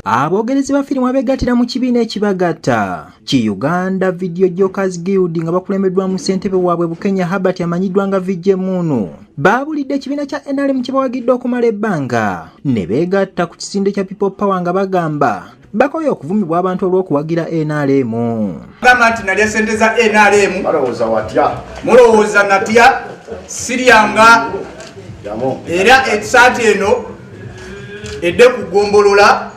Abogerezi ba firimu abegattira mu kibiina ekibagatta ki Uganda Video Jokers Guild nga bakulembeddwamu ssentebe waabwe Bukenya Herbert amanyiddwa nga VJ Munu baabulidde ekibiina kya NRM kye bawagidde okumala ebbanga ne beegatta ku kisinde kya People Power nga bagamba bakoye okuvumibwa abantu olw'okuwagira NRM. Gamba nti nalya ssente za NRM. Mulowooza watya? Mulowooza natya? Siryanga era ekisaati eno edde ku gombolola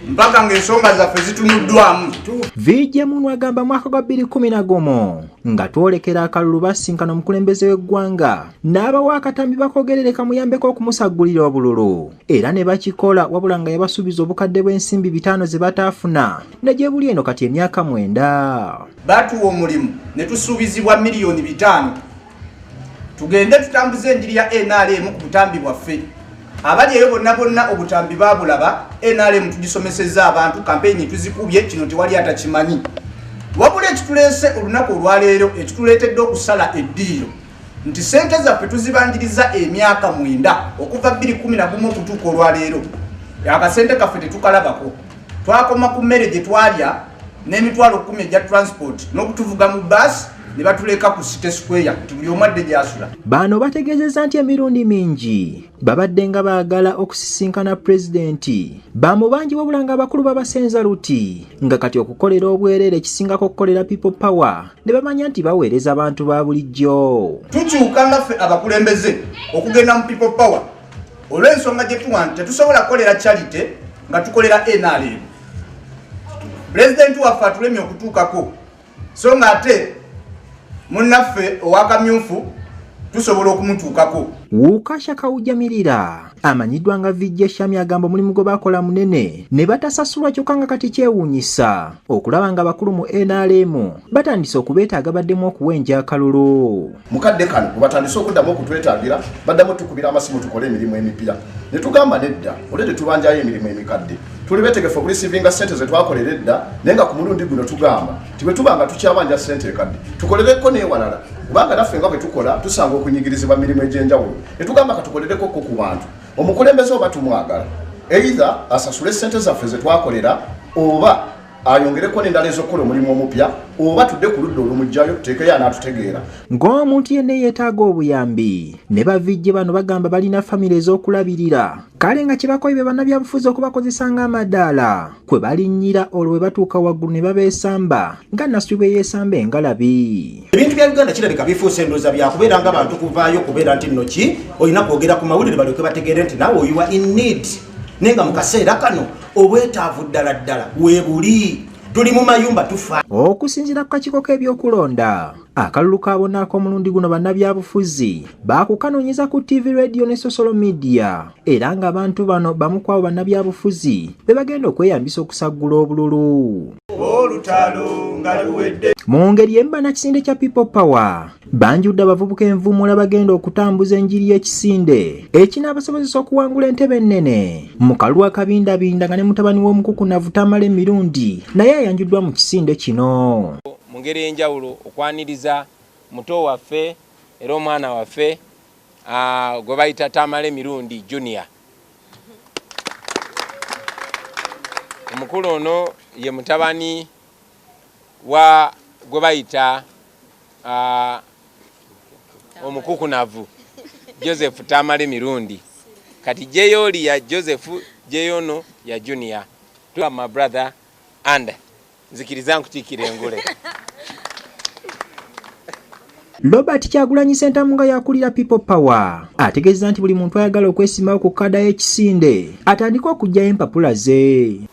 mpaka ng'ensonga zaffe zitunuddwamu viija munu agamba mwaka gwa 211 nga twolekera akalulu basinkana omukulembeze w'eggwanga n'abawa akatambi bakogerereka muyambeko okumusaggulira obululu era ne bakikola wabula nga yabasuubiza obukadde bw'ensimbi bitaano ze bataafuna ne gye buli eno kati emyaka mwenda batuwa omulimu ne tusuubizibwa miliyoni bitaano tugende tutambuze enjiri ya nrm ku butambi bwaffe abali eyo bonna bonna obutambi babulaba nrm tugisomeseza abantu kampeyini tuzikubye kino tewali atakimanyi wabula ekituleese olunaku olwaleero ekituleetedde okusala eddiiro nti sente zaffe tuzibanjiriza emyaka mwenda okuva 211 okutuuka olwaleero akasente kaffe tetukalabako twakoma ku mmere gye twalya n'emitwalo 1 egya transport n'okutuvuga mu baasi ne batuleka ku city square nti buli omu adde gyasula baano bategeezezza nti emirundi mingi babadde nga baagala okusisinkana pulezidenti bamubangi wabula nga abakulu babasenza luti nga kati okukolera obwereere ekisingako okukolera people power ne bamanya nti baweereza abantu ba bulijjo tukyuka nga ffe abakulembeze okugenda mu people power olw'ensonga gye tuwa nti tetusobola kukolera charity nga tukolera nrm pulezidenti waffe atulemye okutuukako so nga ate munnaffe owakamyufu tusobola okumutuukako wukasha kawujamirira amanyiddwa nga vijja shami agamba omulimu gwe bakola munene ne batasasulwa kyokka nga kati kyewuunyisa okulaba nga abakulu mu nrm batandise okubeetaaga baddemu okuwa enjakalulu mukadde kano webatandise okuddamu okutwetagira baddamu tukubira amasimu tukole emirimu emipya ne tugamba nedda olwe tetubanjayo emirimu emikadde tuli betegefu okulisivinga sente zetwakolera edda naye nga ku mulundi guno tugamba ti bwe tuba nga tukyabanja sente ekadde tukolereko newalala kubanga naffe nga bwe tukola tusanga okunyigirizibwa mirimu egy'enjawulo ne tugamba ka tukolereko ko ku bantu omukulembeze oba tumwagala eitha asasule sente zaffe zetwakolera oba ayongereko nendala ezokukola omulimu omupya oba tudde ku ludda olumugjayo tuteekeyo anaatutegeera ng'omuntu yenna eyeetaaga obuyambi ne bavijje bano bagamba balina famire ez'okulabirira kale nga kyebakoye be bannabyabufuzi okubakozesa ng'amadaala kwe balinnyira olwo bwe batuuka waggulu ne babeesamba nga nasubi bwe yeesamba engalabi ebintu bya uganda kirabika bifuusa endooza byakubeera nga bantu kuvaayo okubeera nti nno ki olina kwogera ku mawulire balyoke bategeere nti naawe oyiwa in need naye nga mu kaseera kano obwetaavu ddala ddala webuli tuli mu mayumba tufa okusinzira ku kakiiko k'ebyokulonda akalulu ka bonna ak'omulundi guno bannabyabufuzi baakukanoonyeza ku ttivi radiyo ne sosolo midiya era ng'abantu bano bamu kwabo bannabyabufuzi be bagenda okweyambisa okusaggula obululu olutalo nga luwedde mu ngeri emba nakisinde kya people power banjudde abavubuka envumula bagenda okutambuza enjiri y'ekisinde ekinaabasobozesa okuwangula entebe ennene mu kalwa akabindabinda nga ne mutabani w'omukukunavu tamala emirundi naye ayanjuddwa mu kisinde kino mu ngeri ey'enjawulo okwaniriza muto waffe era omwana waffe gwe bayita tamala emirundi junior omukulu ono ye mutabani wa gwe bayita uh, omukukunavu joseph tamale mirundi kati jeyooli ya joseph jeyono ya junior tuwa my brother and nzikiriza nkutikira engule Robert Kyagulanyi Sentamu nga yakulira People Power ategeeza nti buli muntu ayagala okwesimawo ku kada y'ekisinde atandika okujjayo empapula ze.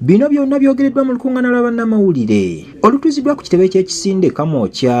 Bino byonna byogereddwa mu lukungana lwa bannamawulire olutuuzibwa ku kitebe ky'ekisinde Kamwokya.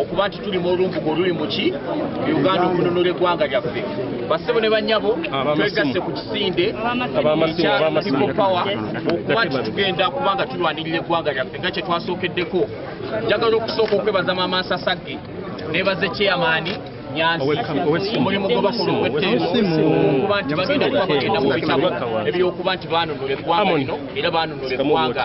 okuba nti tuli mu olumbuga oluli muki uganda okununula eggwanga lyaffe basebo ne banyabo twegasse ku kisinde ekya people power okuba nti tugenda kuba nga tulwanirira eggwanga lyaffe nga kyetwasookeddeko njagala okusooka okwebaza maama nsasagge nebaze kyeyamaani omulimu gwe bakola ogwetteeokuba nti bagenda kuba bagenda mu bitabo ebyokuba nti baanunula eggwanga lino era baanunula eggwanga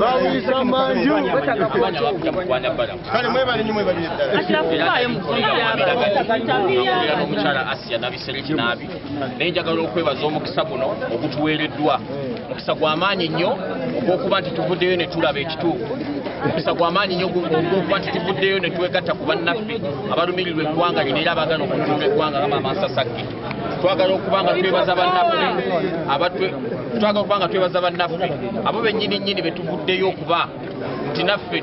bawulisa manju kale mwebale nyo mwebalire ddalaomukyala asia nabisereki naabi naye njagala okwebaza omukisa guno ogutuweereddwa mukisa gwamaanyi nnyo ogwokuba nti tuvuddeyo ne tulaba ekituufu mukisa gwamaanyi nnyo ogwokuba nti tuvuddeyo ne twegatta ku bannaffe abalumirirwa eggwanga lino era abagana okutuuma eggwanga nga maamansasagge twagala okuba nga twebaza bannaffe abatwe twagala okuba nga twebaza bannaffe abo bennyini nnyini be tuvuddeyo okuba nti naffe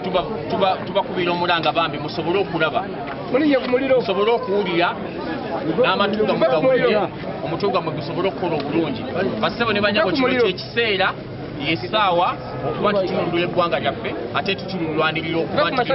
tubakubira omulanga bambi musobole okulaba musobole okuwulira n'amatu gamwe gawulire omutwe gwammwe gusobole okukola obulungi bassebo ne banyabo kino kyekiseera yesaawa okuba nti tulundula eggwanga lyaffe ate tutululwanirira okuba nti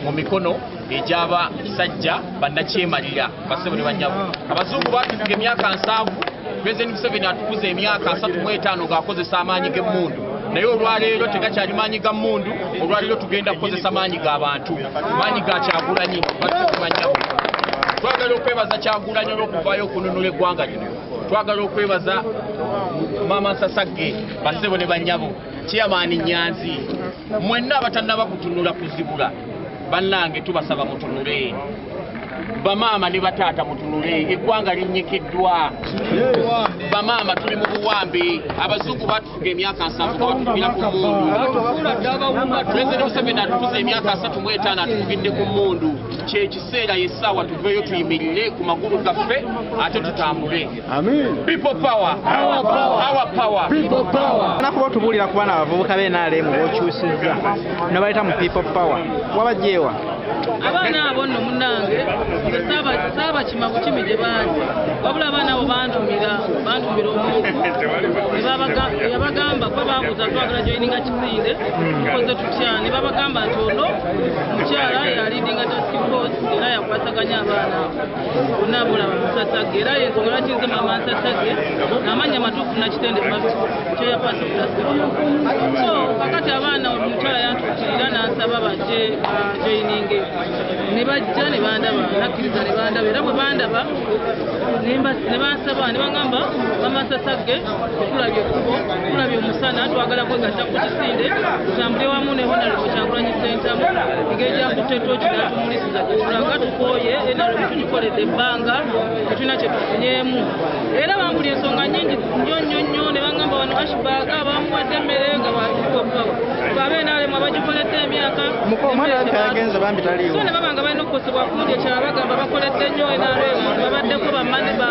mu mikono egyaba sajja bannakyemalira basebo ne banyabo abazungu batufuga emyaka nsanvu president museveni atukuza emyaka asatu mu etaano ng'akozesa amaanyi g'emmundu naye olwaleero tegakyali maanyi ga mmundu olwaleero tugenda kukozesa maanyi ga bantu maanyi ga kyagulanyi batukumanyabo twagala okwebaza kyagulanyi olw'okuvaayo okununula eggwanga lino twagala okwebaza maama nsasagge basebo ne banyabo kiyamaani nyanzi mwenna abatannaba kutunula kuzibula bannange tubasaba mutunule bamaama ne bataata mutunule eggwanga linyikiddwa bamaama tuli mu buwambi abazungu batufuga emyaka nsanvu abatufugira ku mundu pulezidenti museveni atufuza emyaka asatu mu etaano atufugidde ku mundu kyeki Seera yessaawa tuveeyo tuyimirire ku magulu gaffe ate tutambule. Amen. People power. Our power. Our power. People power. Nakuba otubuulira ku baana abavubuka be NRM b'okyusizza ne bayita mu people power. Wabagyewa? Abaana abo nno munnange nze saabakima bukimi gye baali wabula abaana abo bantumira bantumira omuntu yabagamba kwe baabuuza twagala joyininga Siire, tukoze tutya ne babagamba nti ono mukyala yalidinga task force era yakwataganya abaana bonna bulaba musasage era yensonga lwaki nze mama nsasage namanya matuufu nakitende fast kyeyakwasa task so kakati abaana omukyala yantuukirira n'asaba bajje joyininge ne bajja ne bandaba nakkiriza ne bandaba era bwe bandaba ne bansaba ne bagamba mama nsasage tulabye ekkubo tulabye omusana twagala kwegatta ku kisinde tutambule wamu ne honalebo kyagulanyi sentamu engeri gyakutte tooki natumulisiza gyetulaga tukooye enalebo tugikoledde ebbanga tetulina kyetufunyeemu era bambuli ensonga nyingi nyo nyo nyo ne bangamba wano ashbag abamuwadde emmere nga babenaalimu abagikoledde emyaka so ne baba nga balina okukosebwa kundi ekyala bagamba bakoledde nnyo enalebo babaddeko bamane ba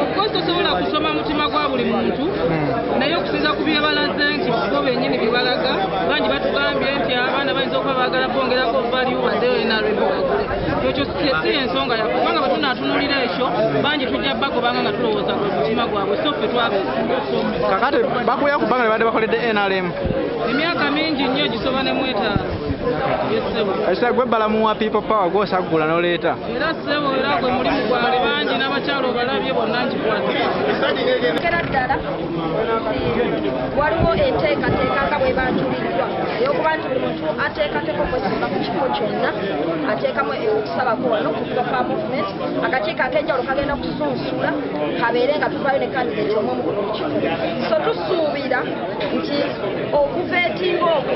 okukozi tosobola kusoma mutima gwa buli muntu hmm. naye okusinza ku byebalaze nti bo benyini byebalaga bangi batugambye nti abaana bayinza okuba bagala kwongerako valiu badenarebwagule ekyo si ensonga yaffe kubanga bwetunatunulira ekyo bangi tujja bagobanga nga tulowooza ku mutima gwabwe so ffe twabeekakati bakuya ku bbanga nebadde bakoledde nrm emyaka mingi nnyo gisoba nemwetaano esegwe balamuwa people power gwosaggula noleeta era ssebo era gwe mulimu gwali bangi n'abakyala obalabye bonna nkikwatera ddala waliwo enteekateeka nga bwe banjuliddwa eyokuba nti buli muntu ateekateko kwesanga ku kifo kyonna ateekamu eyokusabako wano kuva pa movement akakiiko ak'enjawulo kagenda kusunsula kabeere nga tuvaayo ne kandideti omu omu ku buli kifo so tusuubira nti okuva etimba okwo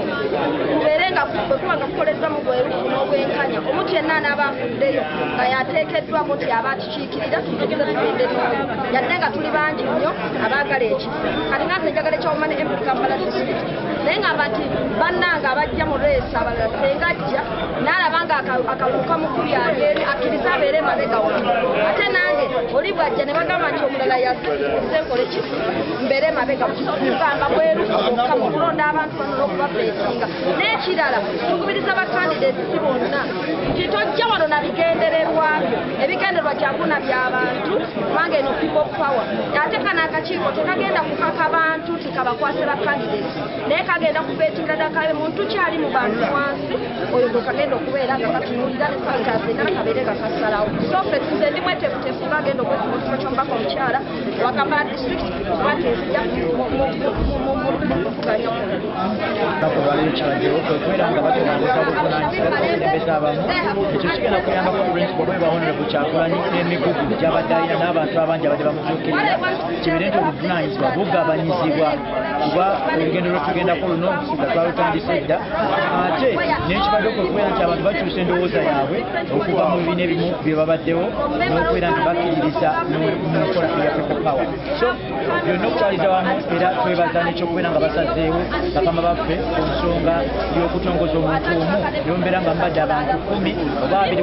kubeere nga kuba nga kukolezza mu bwerufu n'obwenkanya omuntu yenna anaaba afuddeyo nga yateekeddwa muti aba akikiikirira tutuuze tugende n'oyo yadde nga tuli bangi nnyo abaagala ekifo kati nga nze njagala ekyawuma ne emuli kampala district naye ngamba nti bannange abajja mu reesi abalala senga ajja n'alaba nga akaluuka mukulu yali eri akkiriza abeere emabega wange ate nange oli bwajja ne bagamba nti omulala yaze nkola ekifo mbeere emabega mukiso kugamba bwerukuka mu kulonda abantu bano n'okubabeesinga n'ekirala tukubiriza bakandideeti si bonna nti tojja wano na bigendererwabyo ebigendererwa kyakuna by'abantu kubanga eno people power ate kano akakiiko tekagenda kukaka bantu nti kabakwase bakandideeti naye kagenda kubeetinga dakabe muntu kyali mu bantu wansi oyo gwe kagenda okubeera nga katunuulira ne santaasena kabeere nga kasalawo so fe tuze ndi mwetefutefu bagenda okwefuba okusoma kyombaka omukyala wakamba district kubanga ezija mukuganya nakubaliro kiragiro kwekwera nga batonazesa buvunanyizibwa n'abakulembeze abamu ekyo kigenda kuyamba ku principal bwe bahonorable kyakulanyi n'emigugu gy'abadde alina n'abantu abangi abadde bamutuukirira kibeere nti obuvunanyizibwa bugabanyizibwa kuba olugendo lwetugendako luno nga twalutandise edda ate nekibadde okubeera nti abantu bakyusa endowooza yaabwe okuva mu bibiina ebimu byebabaddewo n'okubeera nti bakkiririza mukola eya people power so byonna okutwaliza wamu era twebaza nekyokubeera nga basazeewo bakama baffe ku nsonga y'okutongoza omuntu omu yombeera nga mbadde abantu kumi oba abiri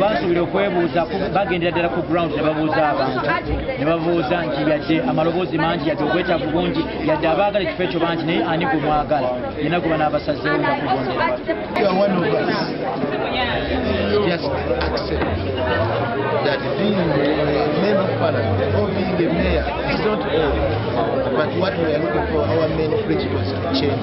basuubira okwebuuza bagendera ddala ku ground ne babuuza abantu ne babuuza nti yadde amaloboozi mangi yadde obwetaavu bungi yadde abaagala ekifo ekyo bangi naye ani gwe mwagala yena gwe banaabasazeewo nga kugondera Just accept that being a member of parliament or being a mayor is not all, but what we are looking for, our main principles to change.